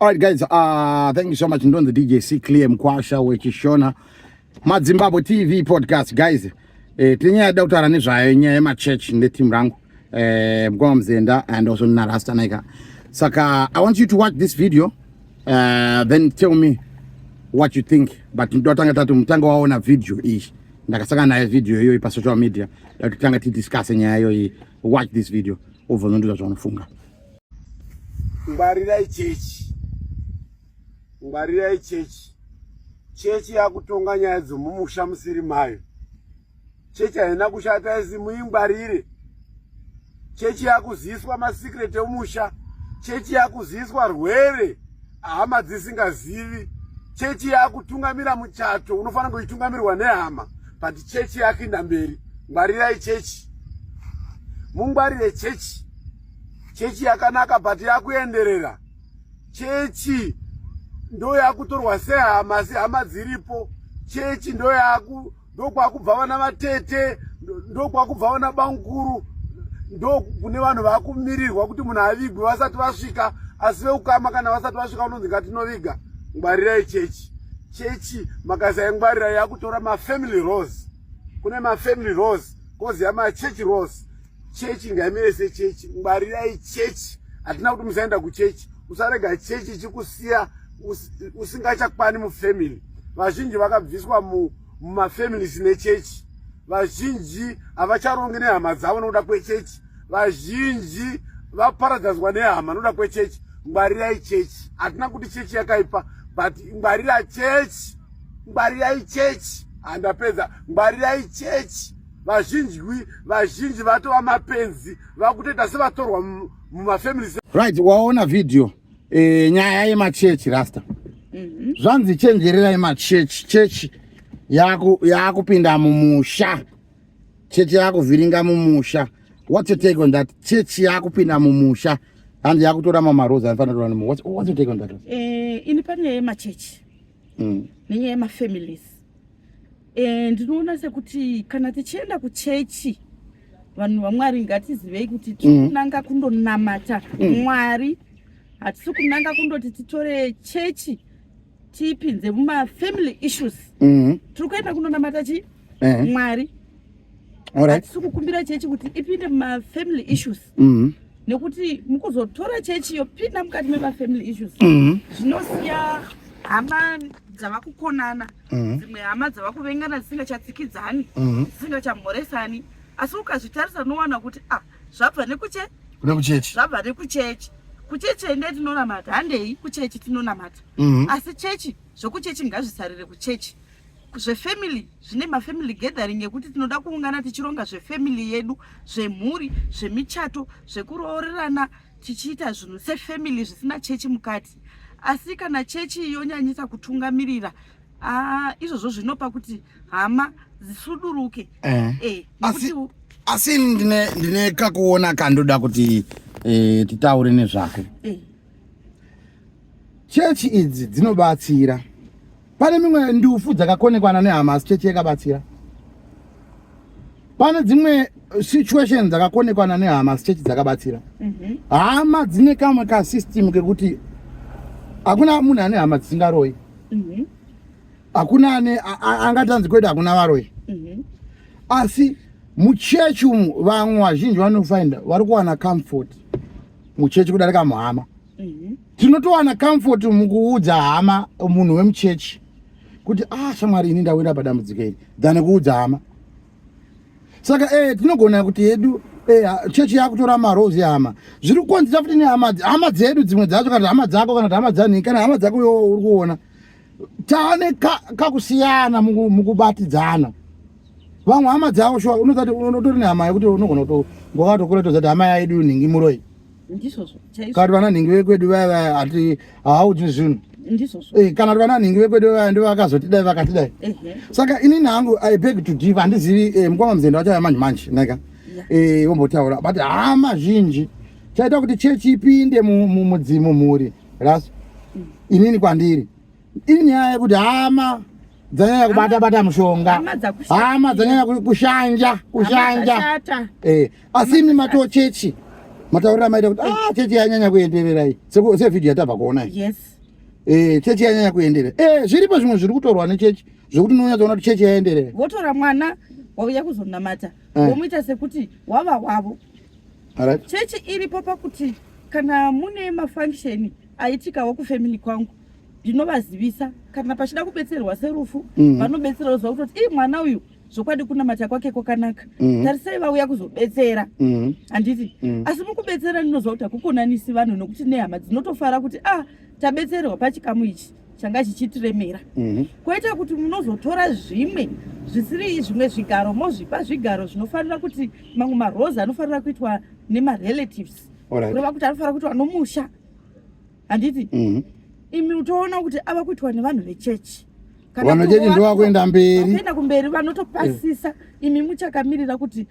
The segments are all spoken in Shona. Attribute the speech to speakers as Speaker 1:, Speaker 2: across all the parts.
Speaker 1: All right, guys, uh, thank you so much. Ndonzi DJ C Clear Mkwasha wechishona madzimbabwe TV podcast guys. Eh, tine nyaya yada kutaura nezvayo nyaya yemachurch neteam rangu eh, mkoma Mzenda and also nina Rasta Naika. Saka I want you to watch this video uh, then tell me what you think but ndotanga tati mutanga waona video iyi ndakasaka naye video iyoyi pasocial media datotanga tidiscase nyaya iyoyi watch this video obvonondiza zvaunofunga ngwarirai
Speaker 2: chechi ngwarirai chechi chechi yakutonga nyaya dzomumusha musiri mayo chechi haina kushata isi muingwarire chechi yakuziswa masecret emusha chechi yakuziswa rwere hama dzisingazivi chechi yakutungamira muchato unofanira kuitungamirwa nehama but chechi yakinda mberi ngwarirai chechi mungwarire chechi chechi yakanaka but yakuenderera chechi ndo yakutorwa sehama asi hama dziripo chechi ndo yaku ndo kwakubva vana vatete ndo kwakubva vana bamukuru ndo kune vanhu vakumirirwa kuti munhu avigwe vasati vasvika asi veukama kana vasati vasvika unonzi ngatinoviga ngwarirai chechi chechi makasaingwarira yakutora mafamily rose kune mafamily rose kozi yamachechi rose chechi ngaimire sechechi ngwarirai chechi hatina kuti musaenda kuchechi usarega chechi chikusiya usingachakwani mufamily vazhinji vakabviswa mumafamilies nechechi vazhinji havacharongi nehama dzavo nokuda kwechechi vazhinji vaparadzazwa nehama nokuda kwechechi ngwarirai chechi hatina kuti chechi yakaipa but ngwarira chechi ngwarirai chechi handapedza ngwarirai chechi vazhinji vazhinji vatova mapenzi vakutoita sevatorwa mumafamilies right waona
Speaker 1: video e, nyaya yemachechi rasta mm -hmm. zvanzi chenjererai machechi chechi yakupinda yaku mumusha chechi yakuvhiringa mumusha what's your take on that chechi yakupinda mumusha hanzi yakutora mamarozi anofanira kutora what's, what's your take on that uh, ini panyaya
Speaker 3: yemachechi mm. nenyaya yemafamilies eh, ndinoona e, sekuti kana tichienda kuchechi vanhu vamwari ngatizivei kuti tiri mm. kunanga kundonamata mm. mwari hatisi kunanga kundoti titore chechi tipinze mumafamily issues mm-hmm. tiri kuenda kunonamata chi eh. mwari hatisi kukumbira chechi kuti ipinde mumafamily issues mm -hmm. nekuti mukuzotora chechi yopinda mukati memafamily issues mm -hmm. zvinosiya hama dzava kukonana mhm. dzimwe mm -hmm. hama dzava kuvengana dzisingachatsikidzani mm -hmm. dzisingachamhoresani asi ukazvitarisa unowana kuti ah zvabva nekuche kune kuchechi zvabva nekuchechi kuchechi ende tinonamata handei kuchechi tinonamata mm -hmm. asi chechi zvokuchechi ngazvisarire kuchechi zvefamily zvine mafamily gathering ekuti tinoda kuungana tichironga zvefamily yedu zvemhuri zvemichato zvekuroorerana tichiita zvinhu sefamily zvisina chechi mukati asi kana chechi yonyanyisa kutungamirira ah, izvozvo zvinopa kuti hama dzisuduruke eh. Eh,
Speaker 1: asi ndine kakuona kandoda kuti eh, titaure nezvako chechi idzi dzinobatsira pane mimwe ndufu dzakakonekwana nehama asi chechi yakabatsira pane dzimwe situation dzakakonekwana nehama asi chechi dzakabatsira mhm. hama dzine kamwe kasystem kekuti hakuna munhu ane hama dzisingaroi mhm. hakuna ane angatanzi kwete hakuna varoi mhm. asi muchechi umu vamwe vazhinji vanofinda vari kuwana comfort muchechi kudarika muhama mhm. tinotowana mm -hmm. comfort mukuudza hama munhu wemuchechi kuti ah shamwari ini ndawira padambudziko iri than kuudza hama saka ee eh, tinogona kuti hedu ee eh, chechi yakutora marozi hama zviri kukonzera futi nehama hama dzedu dzimwe dzacho kana hama dzako kana kuti hama dzanhii kana hama dzako yo uri kuona tane kakusiyana ka mukubatidzana vamwe hama dzavo shuwa unozati unotori nehama yekuti unogona kutongova tokura tozati hama yaidu nhingi muroi
Speaker 3: kati vana nhingi
Speaker 1: vekwedu vaya vaya ati haaudzi zvinhu eh, kana kuti
Speaker 3: vana nhingi vekwedu
Speaker 1: vaya ndivo vakazotidai vakatidai saka inini hangu i beg to div handizivi eh, mukoma muzenda vachauya manje manje neka eh, vombotaura but hama zhinji chaita kuti chechi ipinde mumudzimu mhuri Last inini kwandiri iri nyaya yekuti hama dzanyanya kubata bata mushonga hama dzanyanya kushanja kushanja eh asi imi mato chechi mataurira maita kuti ah chechi yanyanya kuenderera iyi se video yatabva kuona iyi yes
Speaker 3: eh chechi
Speaker 1: yanyanya kuenderera eh zviripo zvimwe zviri kutorwa ne chechi zvekuti unonyatsa kuona kuti chechi yaenderera votora mwana
Speaker 3: wauya kuzonamata eh. womuita sekuti wava wavo Alright. Chechi iripo pakuti kana mune mafunction aitikawo kufamily kwangu ndinovazivisa kana pachida kubetserwa serufu mm. vanobetsera oziva kutoti ii mwana uyu zvokwadi kunamata kwake kwakanaka mm. tarisai vauya kuzobetsera mm. handiti mm. asi mukubetsera ndinoziva kuti hakukonanisi vanhu nokuti nehama dzinotofara kuti a ah, tabetserwa pachikamu ichi changa chichitiremera mhm. koita kuti munozotora zvimwe zvisiri zvimwe zvigaro mozvipa zvigaro zvinofanira kuti mamwe marose anofanira kuitwa nemarelatives kureva kuti anofanira kuitwa nomusha handiti mhm. imi utoona kuti ava kuitwa nevanhu vechechi vanochechi
Speaker 1: ndovakuenda mberi kuenda kumberi
Speaker 3: vanotopasisa eh. imi muchakamirira kuti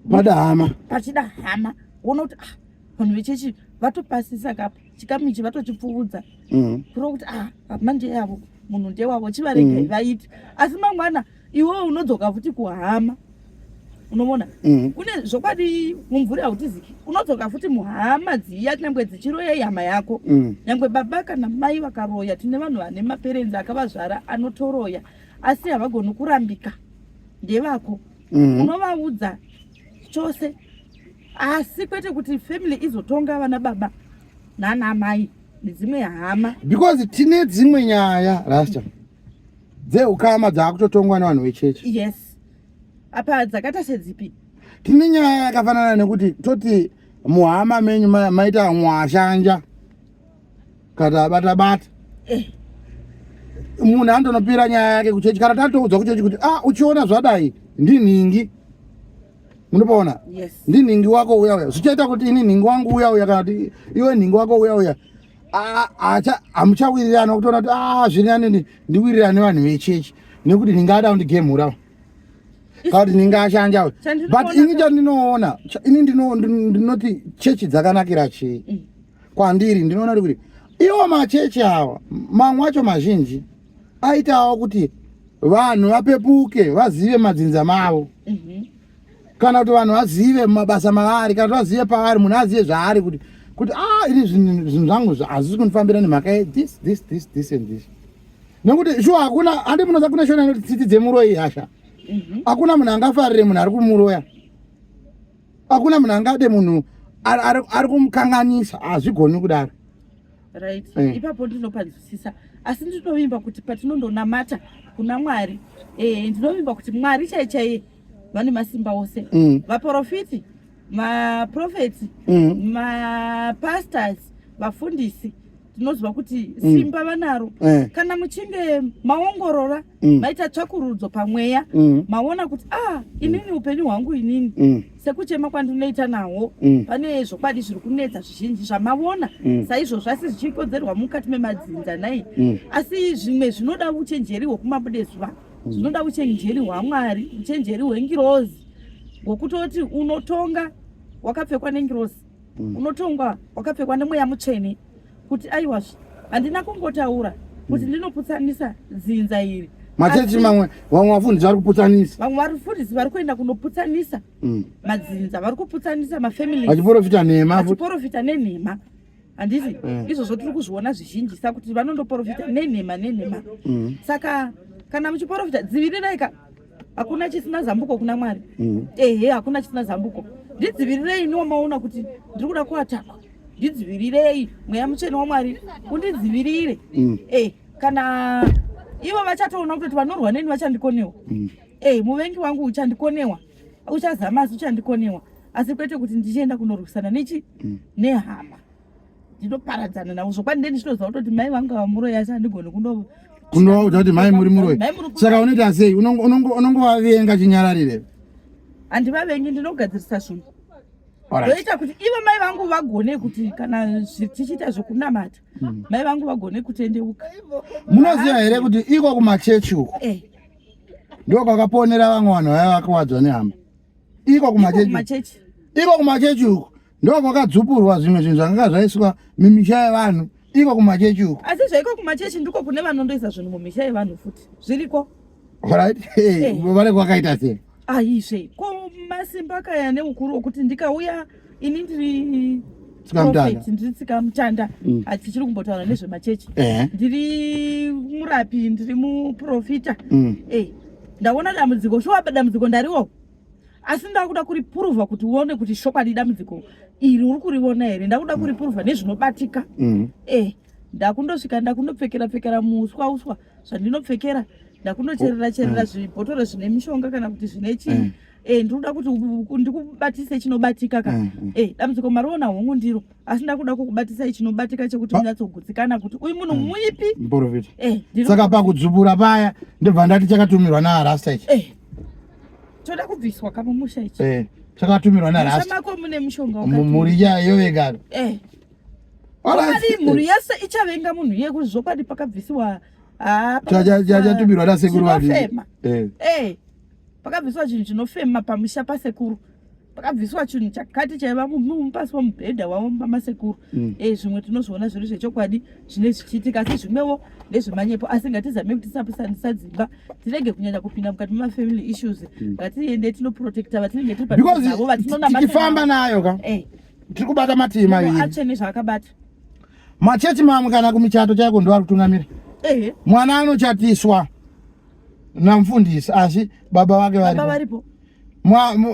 Speaker 3: madahama
Speaker 1: pachidahama
Speaker 3: woona kuti ah, vanhu vechechi vatopasisa kapo chikamu ichi vatochipfuudza mm. kuro kuti ah, manje yavo munhu ndewavo chivaregai mm. vaiti asi mangwana iwewo unodzoka futi kuhama unovona mm. kune zvokwadi mumvuri hautiziki unodzoka futi muhama dziya nyangwe dzichiroya ihama yako mm. nyangwe baba kana mai vakaroya tine vanhu vane maperenzi akavazvara anotoroya asi havagoni kurambika ndevako mm. unovaudza chose asi kwete kuti family izotonga vana baba nana amai nedzimwe hama because tine
Speaker 1: dzimwe nyaya rasta dzeukama dzaakutotongwa nevanhu vechechi yes
Speaker 3: apa dzakaita sedzipi tine nyaya
Speaker 1: yakafanana nekuti toti muhama menyu maita mwashanja kana bata bata eh. munhu andonopira nyaya yake kuchechi kana tatoudzwa kuchechi kuti ah uchiona zvadai ndinhingi munopaona yes. ndinhingi
Speaker 3: wako uya
Speaker 1: uya zvichaita kuti ini nhingi wangu uya uya kana kuti iwe nhingi wako uya uya hamuchawirirana kutoona kuti ah zviri anini ndiwirirane vanhu vechechi nekuti ndingada kundigemhurawo kakuti ndinge ashanja but ini chandinoona ini ndinoti chechi dzakanakira chii mm. kwandiri ndinoona kuti iwo machechi awa mamwe acho mazhinji aitawo kuti vanhu vapepuke vazive madzinza mavo mhm. kana kuti vanhu vazive mabasa mavari kana kuti vazive pavari munhu azive zvaari kuti kuti a ah, ini zvinhu zvangu hazvisi kundifambira nemhaka yethis this this this and this nekuti shuwa hakuna handi munoza kune shona inoti tsitsi dzemuroyi hasha mhm. hakuna munhu angafarire munhu ari kumuroya hakuna munhu angade munhu ari kumukanganisa hazvigoni kudaro right eh.
Speaker 3: ipapo ndinopanzwisisa asi ndinovimba kuti patinondonamata kuna mwari eh, ndinovimba kuti mwari chai chaiye vane masimba ose mm. vaprofiti maprofeti mm. mapastors vafundisi tinoziva kuti mm. simba vanaro eh. kana muchinge maongorora mm. maita tsvakurudzo pamweya mm. maona kuti ah inini upenyu hwangu inini mm. sekuchema kwandinoita nawo mm. pane zvokwadi zviri kunetsa zvizhinji zvamavona mm. saizvozvo asi zvichikonzerwa mukati memadzinza nai mm. asi zvimwe zvinoda uchenjeri hwekumabude zuva mm. zvinoda uchenjeri hwamwari uchenjeri hwengirozi hwekutoti unotonga wakapfekwa nengirozi mm. unotongwa wakapfekwa nemweya mutsvene kuti aiwazve handina kungotaura kuti mm. ndinoputsanisa dzinza iri machechi mamwe
Speaker 1: vamwe vafundisi vari kuputsanisa vamwe varifundisi vari
Speaker 3: kuenda kunoputsanisa mm. madzinza vari kuputsanisa mafamili vachiporofita nhema
Speaker 1: vachiporofita nenhema
Speaker 3: handiti eh. izvozvo tiri kuzviona zvizhinjisa kuti vanondoporofita nenhema nenhema saka kana muchiporofita dzivirirai ka hakuna chisina zambuko kuna mwari mm. ehe hakuna chisina zambuko ndidzivirirei iniwo maona kuti ndiri kuda kuatakwa ndidzivirirei mweya mutsvene wamwari undidzivirire mm. e kana ivo vachatoona kutoti vanorwa neni vachandikonewa mm. e muvengi wangu uchandikonewa uchazama asi uchandikonewa asi kwete kuti ndichienda kunorwisana nechi mm. nehama ndinoparadzana navo zvokwadi ndeni ndinoziva kutoti mai vangu vamuroyi asi handigoni kuno kunovaudza
Speaker 1: kuti mai muri muroyi saka unoita sei unongovavenga chinyararire handivavengi
Speaker 3: ndinogadzirisa zvinhu ndoita kuti ivo mai vangu vagone kuti kana tichiita zvekunamata hmm. mai vangu vagone kutendeuka munoziva
Speaker 1: here kuti iko kumachechi uko eh. ndokwakaponera vamwe vanhu vaya vakawadzwa nehama iko kumachechi iko kumachechi uko ndo kwakadzupurwa zvimwe zvinhu zvakanga zvaiswa mumisha yevanhu iko kumachechi uko asi zvaiko kumachechi
Speaker 3: ndiko kune vanondoisa zvinhu mumisha yevanhu futi zviriko right eh.
Speaker 1: vane kwakaita
Speaker 3: sei aizve
Speaker 1: ko
Speaker 3: masimba kaya neukuru wokuti ndikauya ini ndiri prophet
Speaker 1: ndiri tsikamutanda
Speaker 3: mm. hatichiri kumbotaura nezvemachechi eh. ndiri murapi ndiri muprofita mm. eh, ndaona dambudziko shuwa dambudziko ndariwo asi ndakuda kuripuruvha kuti uone kuti shokwadi dambudziko iri uri kuriona here ndakuda mm. kuripuruvha nezvinobatika eh, ndakundosvika ndakundopfekera pfekera muuswa uswa zvandinopfekera ndakunocherera cherera zvibhotoro zvine mishonga kana kuti zvine chii eh ndinoda kuti ndikubatise chinobatika ka mm, mm. eh dambudziko mariona hongu ndiro asi ndakuda kukubatisai chinobatika chekuti munyatsogutsikana kuti uyu munhu mm. muipi muprofita eh saka
Speaker 1: pakudzubura paya ndibva ndati chakatumirwa naarasta ichi eh choda
Speaker 3: kubviswa kamumusha ichi eh chakatumirwa naarasta
Speaker 1: mako mune mushonga wakati
Speaker 3: mumuri yayo
Speaker 1: vegaro eh Alright.
Speaker 3: Mhuri yese ichavenga munhu iye kuti zvokwadi pakabvisiwa ah,
Speaker 1: chatumirwa nasekuru vaviri. Eh. Eh.
Speaker 3: pakabviswa chinhu chinofema pamusha pasekuru pakabviswa chinhu chakati chaiva mupasi pamubhedha wavo pamasekuru mm. e eh, zvimwe tinozviona zviri zvechokwadi zvine zvichiitika asi zvimwewo ndezvemanyepo asi ngatizame kuti tisapusanisa dzimba tirege kunyanya kupinda mukati memafamily issues mm. ngatiende mm. tinoprotecta vatinenge tiri paavo vatinonatikifamba nayo
Speaker 1: ka eh. tiri kubata matima atsvene zvaakabata
Speaker 3: machechi
Speaker 1: mamwe kana kumichato chaiko ndoari kutungamira mwana anochatiswa namfundisi asi baba vake varipo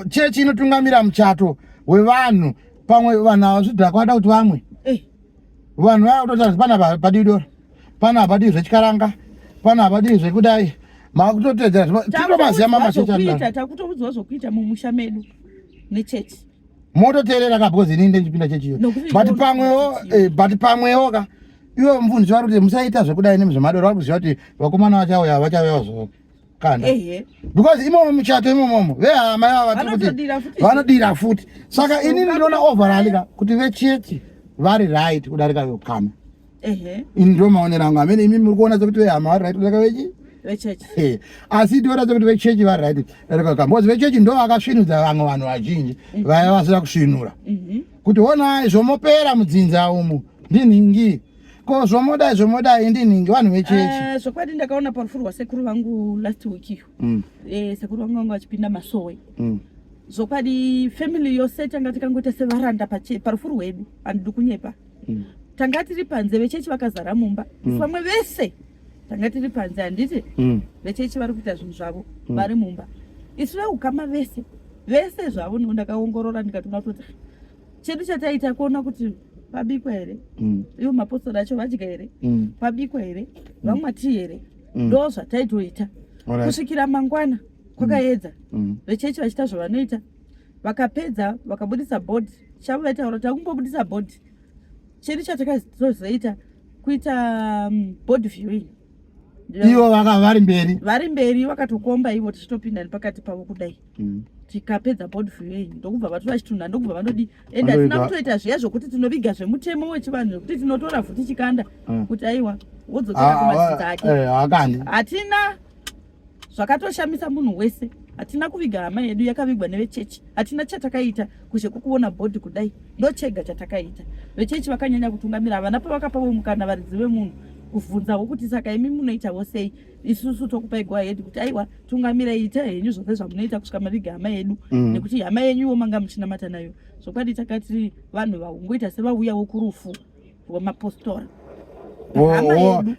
Speaker 1: chechi inotungamira muchato wevanhu pamwe vanhu ava zvidhakwa vada kuti vamwe eh. vanhu vaya kutotazi pana padii dora pana apadii zvechikaranga pana apadii zvekudai makutotedzera tinotomaziva mamachechi anoita takutoudzawo zvokuita
Speaker 3: mumusha medu nechechi mototeerera
Speaker 1: ka because inini ndichipinda chechiyo but pamwewo eh, but pamwewo ka iwo mvunzi vari kuti musaita zvekudai nemi zvemadoro vari kuziva kuti vakomana vachauya vachauyawo zvoo kanda because imomo muchato imomomo vehama yavo vati kuti vanodira futi saka inini ndinoona overalika kuti vechechi vari right kudarika vekukama ini ndo maonero angu amene imi muri kuona sekuti vehama vari right kudaka vechi asi tiona sekuti vechechi vari right datakaka bcause vechechi ndo vakasvinudza vamwe vanhu vazhinji mhm. vaya vasina kusvinura mhm. kuti onai zvomopera mudzinza umu ndinhingi ko zvomodai zvomodai ndinhingi vanhu vechechi eh, zvokwadi ndakaona parufu
Speaker 3: rwasekuru vangu last week iyo mm. eh, sekuru vangu vangu vachipinda masowe mm zvokwadi family yose tanga tikangoita sevaranda parufu rwedu handidi kunyepa mm. tanga tiri panze vechechi vakazara mumba mm. vamwe vese tanga tiri panze handiti mm. vechechi vari kuita zvinhu zvavo mm. vari mumba isu veukama vese vese zvavo no ndakaongorora ndikatoona kuti chedu chataita kuona kuti pabikwa here mm. ivo mapostori acho vadya here mm. pabikwa here mm. vamwa tii here mm. ndo mm. zvataitoita right. kusvikira mangwana kwakaedza mm. mm. vechechi vachiita zvavanoita vakapedza vakabudisa board chavo vaitaura kuti vakungobudisa board chedu chatakazozoita kuita um, board viewing ivo
Speaker 1: vaka vari mberi vari mberi vakatokomba
Speaker 3: ivo tichitopinda nepakati pavo kudai mm. tikapedza board viewing ndokubva vatora chitunha ndokubva vanodi and hatina kutoita zviya zvokuti tinoviga zvemutemo wechivanhu zvekuti tinotora vhuti chikanda mm. kuti aiwa wodzokeakumasita ah, ah, ake eh, hatina zvakatoshamisa munhu wese hatina kuviga hama yedu yakavigwa nevechechi hatina chatakaita kushe kukuona bhodhi kudai ndochega chatakaita vechechi vakanyanya kutungamira havana pavakapavo mukana varidzi vemunhu kuvhunzawo kuti saka imi munoitavo sei isusu tokupai go ahead kuti aiwa tungamirai ita henyu zvose zvamunoita kusvika maviga hama yedu mm. nekuti hama yenyuwo manga muchinamata nayo zvokwadi takati vanhu vaungoita sevauyawo kurufu rwemapostori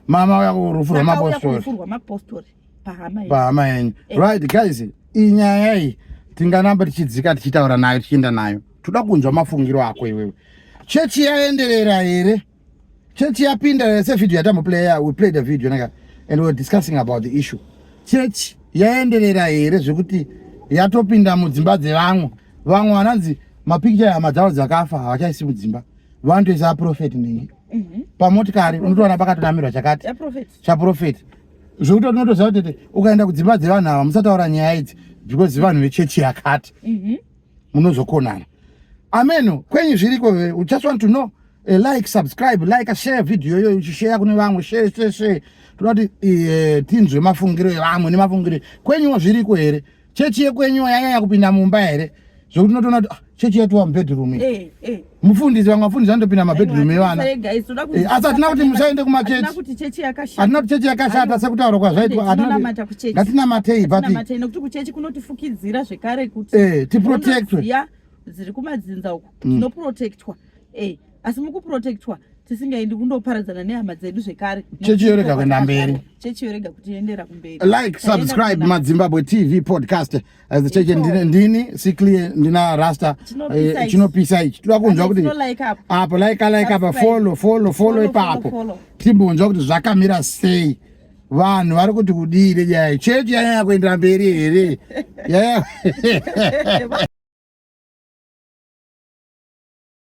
Speaker 1: mama vako rufu rwemapostori pahama yenyu eh. right guys iyi nyaya iyi tinganamba tichidzika tichitaura nayo tichienda nayo toda kunzwa mafungiro ako iwewe chechi yaenderera here chechi yapinda here sevhidhio yatamboplaya we played a video naka and weare discussing about the issue chechi yaenderera here zvekuti yatopinda mudzimba dzevamwe vamwe vananzi mapikicha hama dzavo dzakafa havachaisi mudzimba vanotoisa aprofeti nhingi mhm. pamotikari unotoona pakatonamirwa chakati chaprofeti zvekuti unotoziva kuti ukaenda kudzimba dzevanhu ava musataura nyaya idzi because vanhu vechechi yakati mhm. munozokonana ameno kwenyu zviriko u just want to know eh, like subscribe like share video iyoyo uchisheya kune vamwe share share share toda kuti eh, tinzwe mafungiro evamwe nemafungiro kwenyuwo zviriko here chechi yekwenyu yanyanya kupinda mumba here zvokuti unotoona kuti ah, chechi yatova mubedroom eh, eh. mufundisi vamwe vafundisi vanotopinda mabedroom evana eh, asi hatina kuti musaende kumachechi hatina kuti chechi yakashata sekutaura kwazvaitwa ngatinamatei buttiprotectwe
Speaker 3: dziri kumadzinza uku mm. tinoprotectwa asi mukuprotectwa tisingaendi kundoparadzana nehama dzedu zvekare chechi yorega kuenda
Speaker 1: mberi chechi yorega kutiendera
Speaker 3: kumberi like subscribe
Speaker 1: madzimbabwe tv podcast as the church ndini siklie ndina rasta eh, chinopisa ichi toda kunzwa kuti apo like like apa follow follow follow ipapo timbonzwa kuti zvakamira sei vanhu vari kuti kudii nenyaya chechi yanyanya kuendera mberi here yaya